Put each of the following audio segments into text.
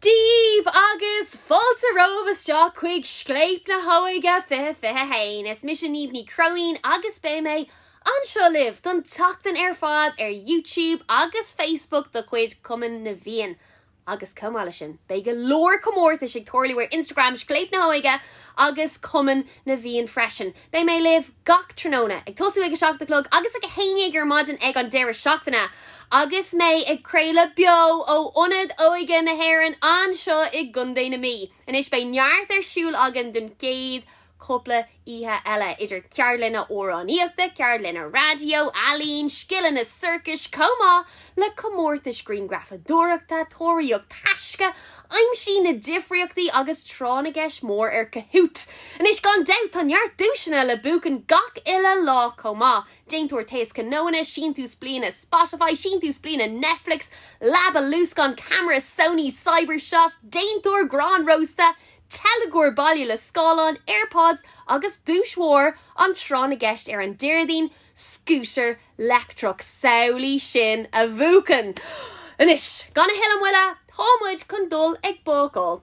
daoibh agus fáilte romhaibh isteach chuig Scléip na hÓige 2021. Is mise Niamh Ní Chróinín agus beidh mé anseo libh don tseachtain ar fad ar YouTube agus Facebook de chuid Chumann na bhFiann. Agus chomh maith leis sin, beidh go leor comórtais ag tarlú ar Instagram Scléip na hÓige agus Cumann na bhFiann freisin. Beidh mé libh gach tráthnóna, ag tosú ag a seacht a chlog agus ag a haon dhéag ar maidin ag an deireadh seachtaine, agus mé ag craoladh beo ó Ionad Óige na hÉireann anseo i gContae na Mí. Anois beidh neart ar siúl againn don chéad chúpla oíche eile, idir ceardlanna amhránaíochta, ceardlanna raidió, ealaín, scileanna sorcais chomh maith le comórtais ghrianghrafadóireachta, tóraíocht taisce, aimsigh na difríochtaí agus tráth na gceist mór ar Kahoot! Anois, gan dabht, tá neart duaiseanna le buachan gach uile lá chomh maith, déantóir taoschnónna, síntiús bliana Spotify, síntiús bliana Netflix, leaba luascáin, ceamara Sony Cybershot, déantóir grán rósta, teilgeoir baile le scáileán, Airpods agus duais mhór an tráth na gceist ar an Déardaoin, scútar leictreach samhlaigh sin a bhuachan! Anois, gan a thuilleadh moille, tá muid chun dul ag bácáil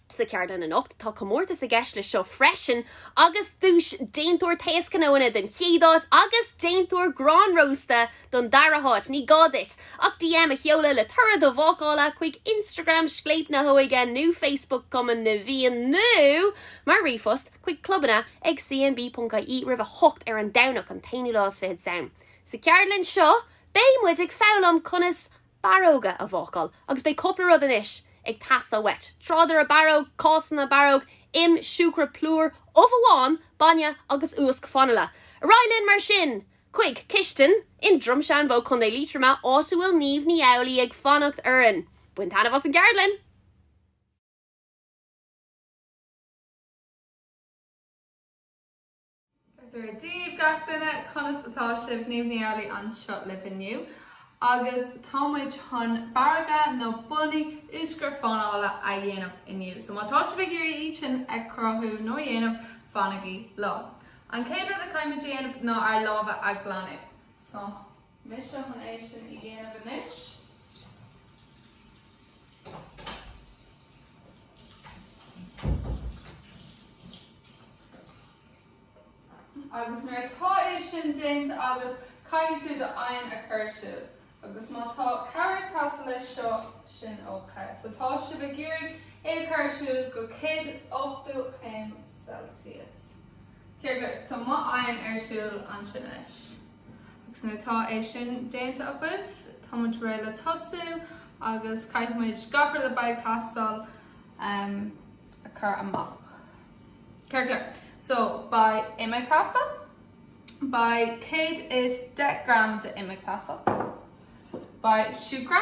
sa cheardlann anocht. Tá comórtas i gceist leis seo freisin agus duais déantóir taoschnónna don chéad áit agus déantóir grán rósta don dara háit. Ní gá duit ach DM a sheoladh le toradh do bhácála chuig Instagram Scléip na hÓige nó Facebook Cumann na bhFiann nó mar ríomhphost chuig clubanna ag cnb.ie roimh a hocht ar an Domhnach an t-aonú lá is fiche Samhain. Sa cheardlann seo beidh muid ag foghlaim conas borróga a bhácáil agus beidh cúpla rud anois ag teastáil uait, tráidire borróg, cásanna borróg, im, siúcra, plúr, ubh amháin, bainne agus úsc fanaile. Ar aghaidh linn mar sin chuig cistin i nDroim Seanbhó, Contae Liatroma, áit a bhfuil Niamh Ní Amhlaidh ag fanacht orainn. Bain taitneamh as an gceardlann! Dia daoibh gach duine, conas atá sibh? Niamh Ní Amhlaidh anseo libh inniu agus tá muid chun borróga nó bunnaí úsc fanaile a dhéanamh inniu. So má tá sibh ag iarraidh iad sin a chruthú nó a dhéanamh, fanaigí liom. An chéad rud a chaithfimid a dhéanamh ná ár lámha a ghlanadh. mise chun é sin a dhéanamh anois. Agus nuair atá é sin déanta agat, caithfidh tú d'oigheann a chur ar siúl. Agus má tá cabhair ag teastáil leis seo, sin ok. So tá sibh ag iarraidh é a chur ar siúl go 180 céim Celsius. Céard leis, tá m'oigheann ar siúl ansin anois. Agus nuair atá é sin déanta agaibh, tá muid réidh le tosú agus caithfidh muid gach rud a bheidh ag teastáil a chur amach. Ceart go leor, so beidh im ag teastáil, beidh 110 gram d'im ag teastáil, beidh siúcra,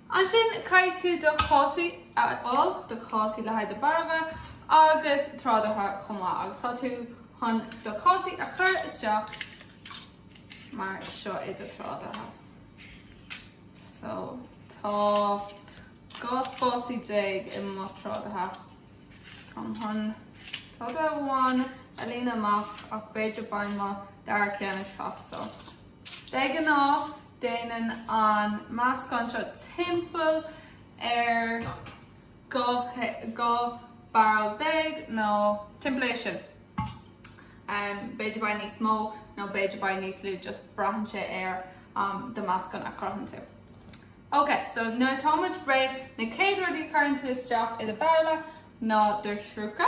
Ansin, caithfidh tú do chásaí a fháil, do chásaí le haghaidh do bhorróga agus tráidire chomh maith, agus tá tú chun do chásaí a chur isteach mar seo i do thráidire. So, tá dhá spásanna déag i mo thráidire. Tá mé chun tráidire amháin a líonadh amach, ach b'fhéidir beidh an dara ceann ag teastáil. De ghnáth, déanann an meascán seo timpeall ar 12 borróg nó timpeall air sin, b'fhéidir beidh níos mó nó b'fhéidir beidh níos lú, just braitheann sé ar do mheascán a chruthaíonn tú. Ok, so nuair atá muid réidh, na chéad rudaí a chuireann tú isteach i do bhabhla ná do shiúcra,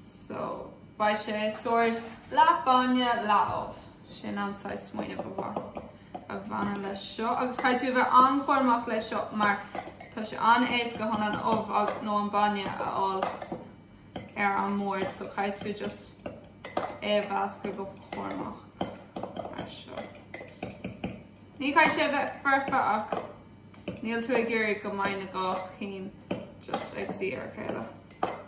so beidh sé sórt leath bainne leath ubh. Sin an saghas smaoineamh a bhaineann leis seo agus caithfidh tú a bheith an-chúramach leis seo mar tá sé an-éasca chun an ubh agus nó an bainne a fháil ar an mbord so caithfidh tú just é a mheascadh go cúramach mar seo. Ní caithfidh sé a bheith foirfe ach níl tú ag iarraidh go mbeidh na dhá cheann just ag suí ar a chéile.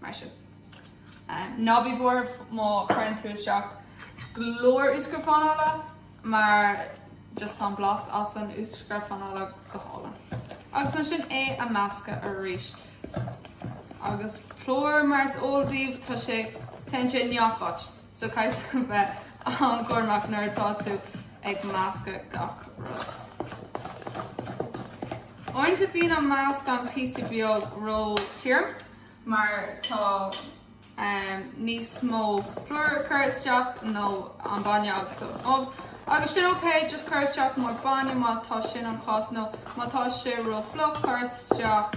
mar sin. Ná bí buartha má chuireann tú isteach go leor úscra fanaile mar just tá an blas as an úscra fanaile go hálainn. Agus ansin é a meascadh arís. Agus plúr mar is eol daoibh tá sé, téann sé i ngach áit. So caithfidh sibh a bheith an-chúramach nuair atá tú ag meascadh gach rud. Uaireanta bíonn an meascán píosa beag ró tirim mar tá níos mó plúr curtha isteach nó an bainne agus an ubh agus sin ok, just cuir isteach mór bainne má tá sin an chás nó má tá sé ró fliuch cuir isteach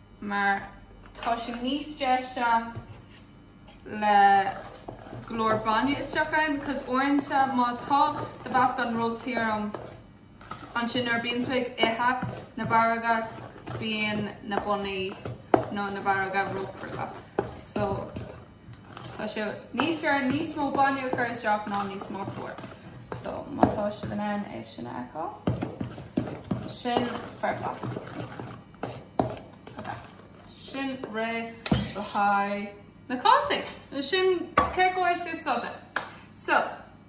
mar tá sé níos deise le go leor bainne isteach ann because uaireanta má tá do mheascán ró-tirim ansin nuair a bíonn tú ag ithe na borróga bíonn na bunnaí nó na borróga ró-crua so tá sé níos fearr níos mó bainne a chur isteach ná níos mó plúr so má tá sibh in ann é sin a fheiceáil sin foirfe. Sin réidh le haghaidh na cásanna. Nó sin cé chomh éasca is atá sé. So,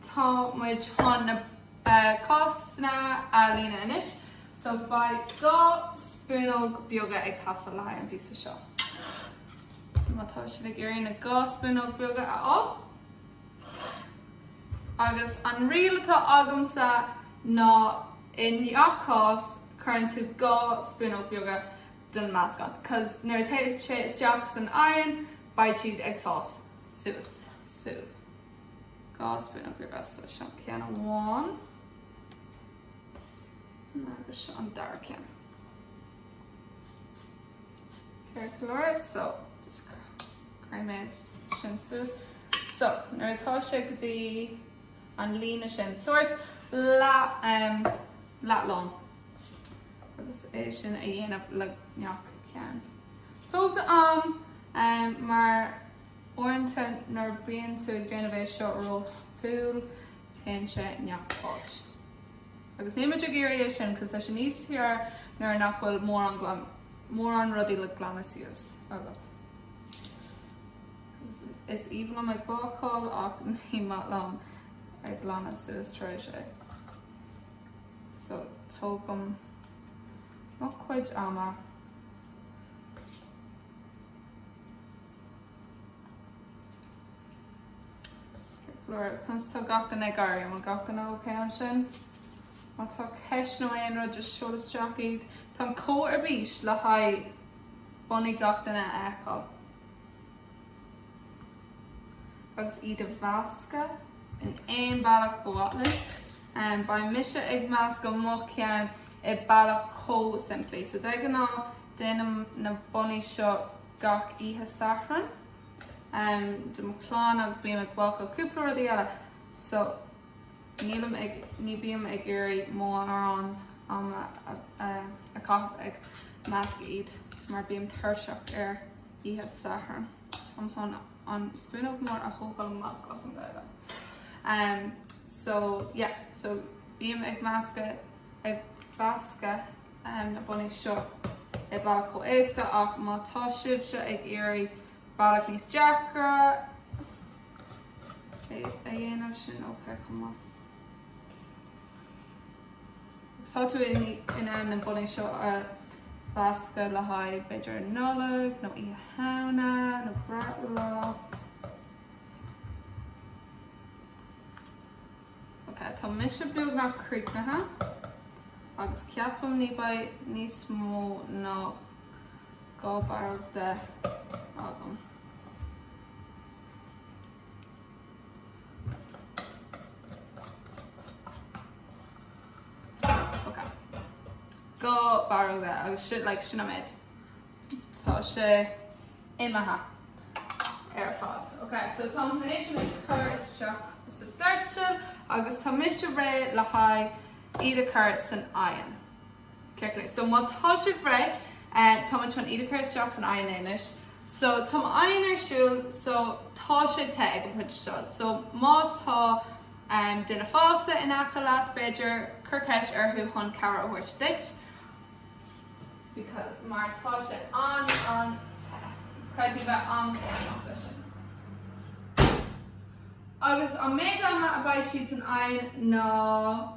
tá muid chun na cásanna a líonadh anois. So, beidh dhá spúnóg beaga ag teastáil le haghaidh an phíosa seo. So, má tá sibh ag iarraidh na dhá spúnóg beaga a fháil. Agus an riail atá agamsa ná i ngach cás. cuireann tú dhá spúnóg beaga den meascán cos nuair a téann sé isteach san oigheann beidh siad ag fás suas so dhá spúnóg beaga so seo ceann amháin agus seo an dara ceann ceart go leor so just craim é sin suas so nuair atá sé go dtí an líne sin, sórt leathlán, agus é sin a dhéanamh le gach ceann. Tóg d'am mar uaireanta nuair a bíonn tú ag déanamh é seo róthapúil, téann sé i ngach áit. Agus níl muid ag iarraidh é sin, cos tá sé níos fearr nuair nach bhfuil mórán rudaí le glanadh suas agat. Is aoibhinn liom ag bácáil ach ní maith liom ag glanadh suas tar éis. So tógaim mo chuid ama. Conas tá gach duine ag éirí? An bhfuil gach duine ócé ansin? Má tá ceist nó aon rud just seol isteach iad. Tá Cóilín ar bís le haghaidh bunnaí gach duine a fheiceáil. agus iad a mheascadh. in aon bealach ba mhaith linn. Beidh mise ag meascadh mo cheann i bealach chomh simplí. So de ghnáth déanaim na bunnaí seo gach oíche Sathairn do mo chlann agus bím ag bácáil cúpla rudaí eile so ní bím ag iarraidh mórán ama a chaitheamh ag meascadh iad mar bím tuirseach ar. oíche Sathairn um chun an spúnóg mór a thógáil amach as an Ghaeilge. Umm so yeah so bím ag meascadh ag meascadh umm na bunnaí seo i bhealach chomh éasca ach má tá sibhse ag iarraidh bealach níos deacra a dhéanamh sin ok chomh maith. Tá tú in ann na bunnaí seo a mheascadh le haghaidh b'fhéidir an Nollaig nó Oíche Shamhna nó breithlá. Ok, tá mise beagnach críochnaithe agus ceapaim ní beidh níos mó ná dhá barra de agam. Ok. Dhá barra de agus sin like sin an méid. Tá sé imithe ar fad. Ok so tá an méid sin curtha isteach sa doirteal agus tá mise réidh le haghaidh iad a chur san oigheann. So má tá sibh réidh, tá muid chun iad a chur isteach san oigheann anois. So tá mo oigheann ar siúl, so tá sé te ag an pointe seo. So má tá duine fásta in aice leat, b'fhéidir, cuir ceist orthu chun cabhair a thabhairt duit, because, mar tá sé an-an-te. Caithfidh tú bheith an-chúramach leis sin. Agus an méid ama a beidh siad san oigheann ná.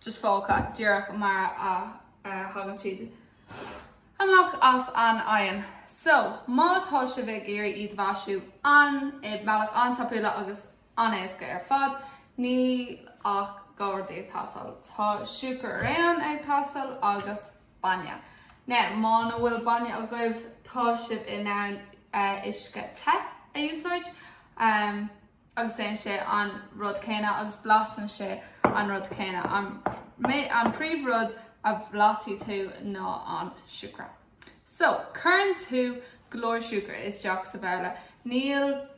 just fágtha díreach mar a thagann siad amach as an oigheann. So, má tá sibh ag iarraidh iad a mhaisiú i mbealach an-tapúla agus an-éasca ar fad, níl ach dhá rud ag teastáil. Tá siúcra reoáin ag teastáil agus bainne. Now, muna bhfuil bainne agaibh, tá sibh in ann uisce te a úsáid. agus déanann sé an rud céanna agus blasann sé an rud céanna. An príomhrud a bhlasfaidh tú ná an siúcra. So, cuireann tú go leor siúcra isteach sa bhabhla. Níl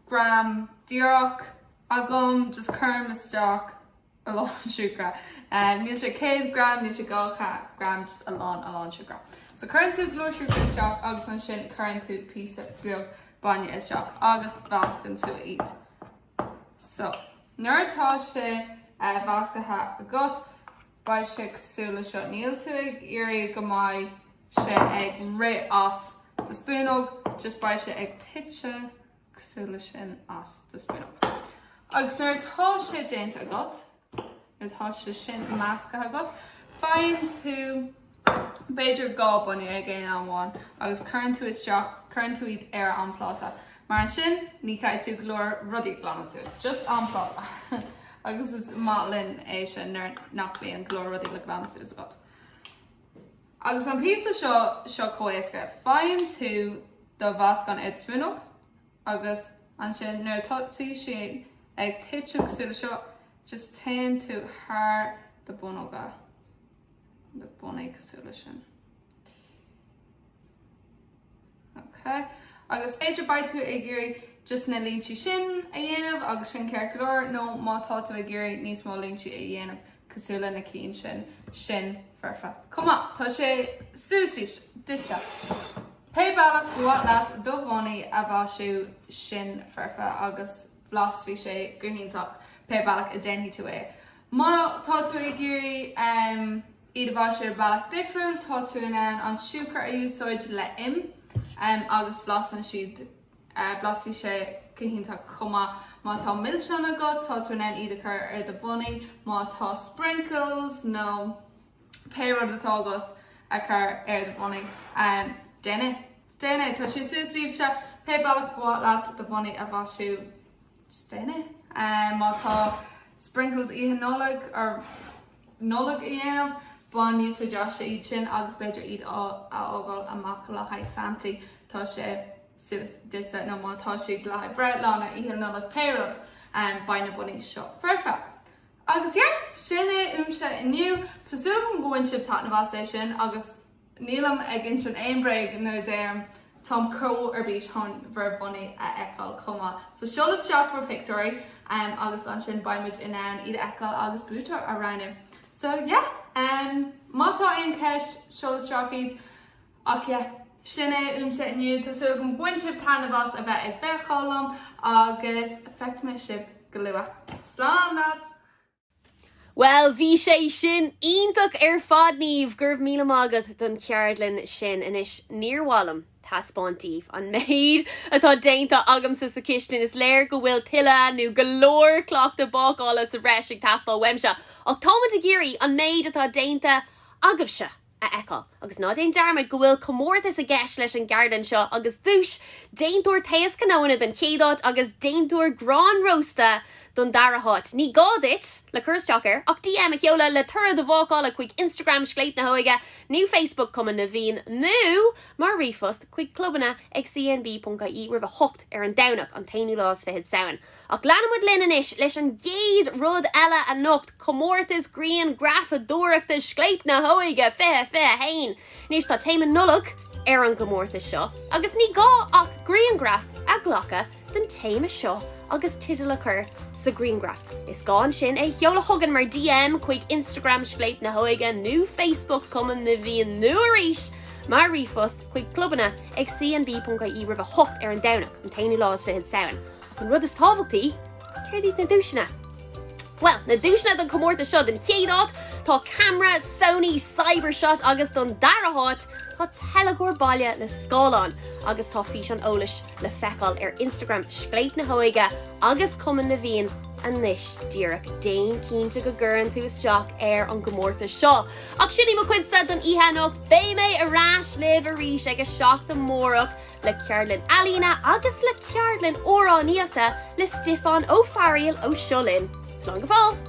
gram díreach agam, just cuirim isteach. a lán siúcra. Níl sé 100 gram, níl sé 200 gram, just a lán, a lán siúcra. So cuireann tú go leor siúcra isteach agus ansin cuireann tú píosa beag bainne isteach agus meascann tú iad. So nuair atá sé measctha agat, beidh sé cosúil le seo. Níl tú ag iarraidh go mbeidh sé ag rith as do spúnóg, just beidh sé ag tite cosúil le sin as do spúnóg. Agus nuair atá sé déanta agat, nuair atá sé sin measctha agat, faigheann tú b'fhéidir dhá bunnaí ag aon am amháin agus cuireann tú isteach, cuireann tú iad ar an bpláta. Mar ansin ní chaithfidh tú go leor rudaí a ghlanadh suas, just an pláta. agus is maith linn é sin nuair nach mbíonn go leor rudaí le glanadh suas agat. Agus an píosa seo chomh héasca, faigheann tú do mheascán id spúnóg agus ansin nuair atá sé sin ag titim cosúil le seo, just téann tú thar do bunnóga, do bunnaí cosúil le sin. Ok, agus b'fhéidir beidh tú ag iarraidh just na línte sin a dhéanamh agus sin ceart go leor, nó má tá tú ag iarraidh níos mó línte a dhéanamh cosúil le na cinn sin, sin foirfe chomh maith. Tá sé suas duitse. Pé bealach ba mhaith leat do bhunnaí a mhaisiú, sin foirfe agus blasfaidh sé go hiontach pé bealach a déanfaidh tú é. Má tá tú ag iarraidh. Iad a mhaisiú ar bhealach difriúil, tá tú in ann an siúcra a úsáid le im agus blasann siad, blasfaidh sé go hiontach chomh maith. Má tá milseáin agat, tá tú in ann iad a chur ar do bhunnaí, má tá sprinkles nó pé rud atá agat a chur ar do bhunnaí, déan é. Tá sé suas daoibhse, pé bealach ba mhaith leat do bhunnaí a mhaisiú. Just déan é, má tá sprinkles oíche Nollag, ar Nollaig a dhéanamh, bain úsáid astu iad sin agus b'fhéidir iad a fhágáil amach le haghaidh Santaí, tá sé suas duitse, nó má tá sé le haghaidh bricfeasta nó oíche Nollag pé rud, beidh na bunnaí seo foirfe. Agus yeah! Sin é uaimse inniu. Tá súil agam go bhain sibh taitneamh as é sin agus Nílim ag insint aon bhréag nuair a deirim, táim chomh ar bís chun bhur bhunnaí a fheiceáil chomh maith. So seol isteach bhur phictiúirí agus ansin beidh muid in ann iad a fheiceáil agus buaiteoir a roghnú. So yeah, má tá aon cheist, seol isteach iad. Ach yeah, sin é uaimse inniu. Tá súil agam go bhain sibh taitneamh as a bheith ag bácáil liom agus feicfidh mé sibh go luath. Slán lads! Bhuel, bhí sé sin iontach ar fad, Niamh! Go raibh míle maith agat don cheardlann sin. Anois, níor mhaith liom taispeáint daoibh an méid atá déanta agamsa sa chistin, is léir go bhfuil tuilleadh, nó go leor, cleachtadh bácála sa bhreis ag teastáil uaimse, ach táimid ag iarraidh an méid atá déanta agaibhse! a fheiceáil. Agus ná déan dearmad go bhfuil comórtas i gceist leis an gceardlann seo agus duais, déantóir taos cnóanna don chéad áit agus déantóir grán rósta don dara háit. Ní gá duit, le cur isteach air, ach DM a sheoladh le toradh do bhácála chuig Instagram Scléip na hÓige nó Facebook Cumann na bhFiann nó mar ríomhphost chuig clubanna ag cnb.ie roimh a hocht ar an Domhnach, an t-aonú lá is fichead Samhain. Ach leanfaimid linn anois leis an gcéad rud eile anocht, comórtas grianghrafadóireachta Scléip na hÓige 2021. Anois, tá téama Nollag ar an gcomórtas seo agus ní gá ach grianghraf a ghlacadh den téama seo agus teideal a chur sa ghrianghraf. Is gá ansin é a sheoladh chugainn mar DM chuig Instagram Scléip na hÓige nó Facebook Cumann na bhFiann nó arís mar ríomhphost chuig clubanna ag cnb.ie roimh a hocht ar an Domhnach, an t-aonú lá is fichead Samhain. An rud is tábhachtaí, céard iad na duaiseanna? Bhuel, na duaiseanna don chomórtas seo don chéad áit, tá ceamara Sony Cybershot agus don dara háit, tá teilgeoir baile le scáileán agus tá físeán eolais le feiceáil ar Instagram Scléip na hÓige agus Cumann na bhFiann anois díreach. Déan cinnte go gcuireann tú isteach ar an gcomórtas seo. Ach sin í mo chuidse don oíche anocht, beidh mé ar ais libh arís ag a seacht amárach le ceardlann ealaíne agus le ceardlann amhránaíochta le Stiofán Ó Fearail ó Seo Linn. Slán go fóill!